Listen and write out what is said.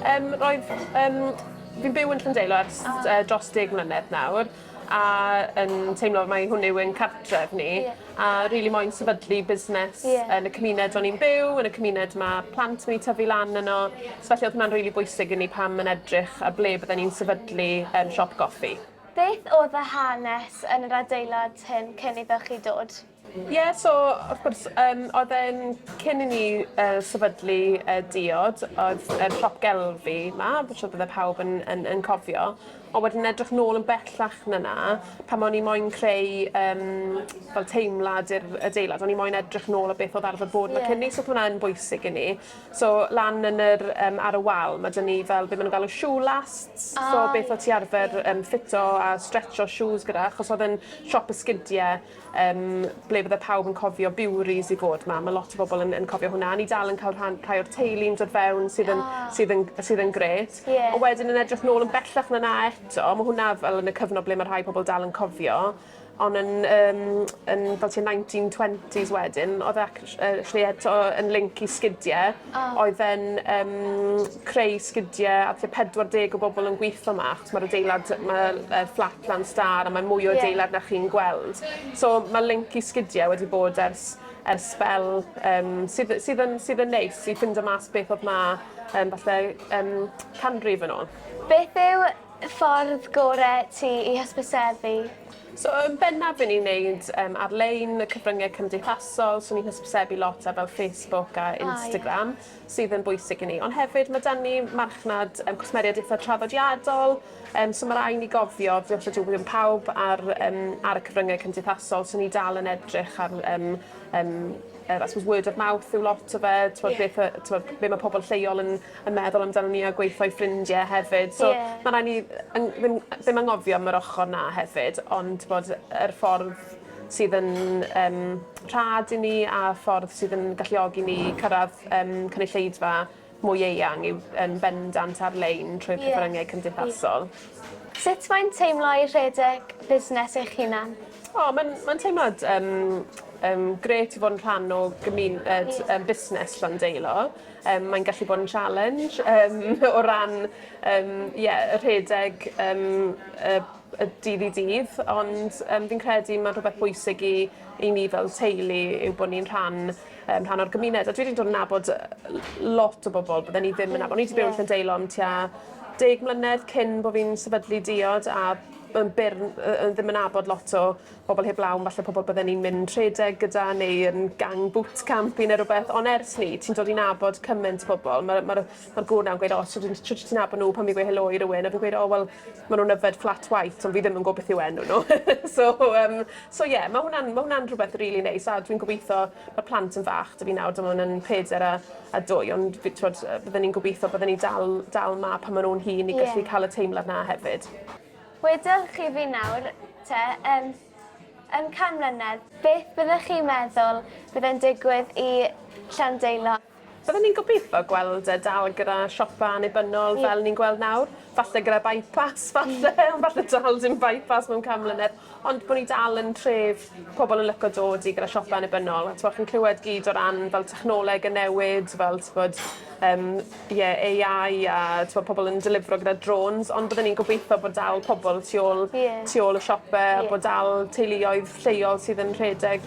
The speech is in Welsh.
Yym roedd yym fi'n byw yn Llandeilo ers yy dros deg mlynedd nawr a yn teimlo mai hwn yw ein cartref ni. Ie. A rili moyn sefydlu busnes... Ie. ...yn y cymuned o'n i'n byw yn y cymuned ma' plant wedi tyfu lan yno. Ie. So felly o'dd hwnna'n rili bwysig i ni pan yn edrych ar ble bydden ni'n sefydlu yym siop goffi. Beth o'dd y hanes yn yr adeilad hyn cyn iddo chi dod? Ie, so wrth gwrs, yym oedd e'n cyn i ni yy sefydlu yy diod oedd yr siop gelf fi 'ma fi siŵr bydde pawb yn yn yn cofio ond wedyn edrych nôl yn bellach na 'na pan o'n i moyn creu yym fel teimlad i'r adeilad o'n i moyn edrych nôl o beth o'dd arfer bod 'ma cyn 'ny so o'dd hwnna yn bwysig i ni. So lan yn yr yym ar y wal ma' 'da ni fel be' ma' nw'n galw shoe lasts so beth o' ti arfer yym ffito a stretsio shoes gyda achos o'dd e'n siop esgidie Yym ble bydde pawb yn cofio Biwris i fod 'ma. Ma' lot o bobol yn yn cofio hwnna. A ni dal yn ca'l rhan rhai o'r teulu yn dod fewn sydd yn... O. ...sydd yn g- sydd yn grêt. Ie. A wedyn yn edrych nôl yn bellach na 'na eto ma' hwnna fel yn y cyfnod ble ma' rhai pobol dal yn cofio on' yn yym yn fel tua nineteen twenties wedyn odd e actsh- yy actually eto yn linc i sgidie oedd e'n yym creu sgidie a tua 40 o bobol yn gwitho 'ma achos ma'r adeilad ma' yy fflat 'ma'n stâr a mae mwy o adeilad... Ie. ...na chi'n gweld. So ma' linc i sgidie wedi bod ers ers sbel yym sydd y- sydd yn sydd yn neis i ffindo mas beth odd 'ma yym falle yym canrif yn ôl. Beth yw y ffordd gore ti i hysbysebu? So yn bennaf be' ni'n neud yym ar-lein, y cyfrynge cymdeithasol, so ni'n hysbysebu lot ar fel Facebook a Instagram... O ie. ...sydd yn bwysig i ni. Ond hefyd ma' 'dan ni marchnad yym cwsmeriaid eitha traddodiadol yym so ma' rai' ni gofio dioch y dyw ddim pawb ar yym ar y cyfrynge cymdeithasol so ni dal yn edrych ar yym yym yr I suppose word of mouth yw lot o fe t'mod... Ie. ...beth yy t'mod be' ma' pobol lleol yn yn meddwl amdanon ni a gweitho i ffrindie hefyd so... Ie. ...ma' rai' ni yn ddim ddim angofio am yr ochor 'na hefyd ond t'bod yr ffordd sydd yn yym rhad i ni a ffordd sydd yn galluogi ni cyrradd yym cynulleidfa mwy eang yw yn bendant ar-lein trwy'r... Ie. ...cyfrynge cymdeithasol. Sut mae'n teimlo i rhedeg busnes eich hunan? O ma'n ma'n teimlad yym yym grêt i fod yn rhan o gymun- ed yym busnes Llandeilo. Yym, mae'n gallu bod yn challenge yym, o ran yym, ie, y rhedeg yym, y, y dydd i dydd, ond yym, fi'n credu mae'n rhywbeth bwysig i, i ni fel teulu yw bod ni'n rhan, um, rhan o'r gymuned. A dwi wedi dod yn nabod lot o bobl bydden ni ddim yn nabod. O'n i wedi byw yn Llandeilo am tua deg mlynedd cyn bod fi'n sefydlu diod a yn byr, ddim yn nabod lot o pobl heb law, falle pobl bydden ni'n mynd rhedeg gyda neu yn gang boot camp i neu rhywbeth, ond ers ni, ti'n dod i nabod cymaint o bobl, mae'r ma ma gŵr na'n gweud, o, oh, ti'n ti ti'n nabod nhw pan fi'n gweud helo i rywun, a fi'n gweud, o, oh, wel, maen nhw'n yfed flat white, ond fi ddim yn gwybod beth yw enw nhw. so, um, so ie, yeah, mae hwnna'n ma hwnna rhywbeth rili really neis, a dwi'n gobeithio, mae plant yn fach, dwi fi nawr, dyma hwnna'n peder a, a dwy, ond bydden ni'n gobeithio, bydden ni'n dal, dal ma pan maen nhw'n hun i gallu yeah. cael y teimlad na hefyd. Wedwch chi fi nawr, te, yn, yn can mlynedd. Beth byddech chi'n meddwl bydd yn digwydd i Llandeilo? Byddwn i'n gobeithio gweld e dal gyda siopa annibynnol fel ni'n gweld nawr. Falle gyda by-pass, falle, ond falle dal dim by-pass mewn can mlynedd. Ond bo' ni dal yn tref pobol yn lico dod i gyda siope annibynnol a t'mo' chi'n clywed gyd o ran fel technoleg yn newid fel t'bod yym ie Ay Eye a t'mo' pobol yn delifro gyda drones ond byddwn i'n gobeitho bod dal pobol tu ôl... Ie. ...tu ôl y siope a bod dal teuluoedd lleol sydd yn rhedeg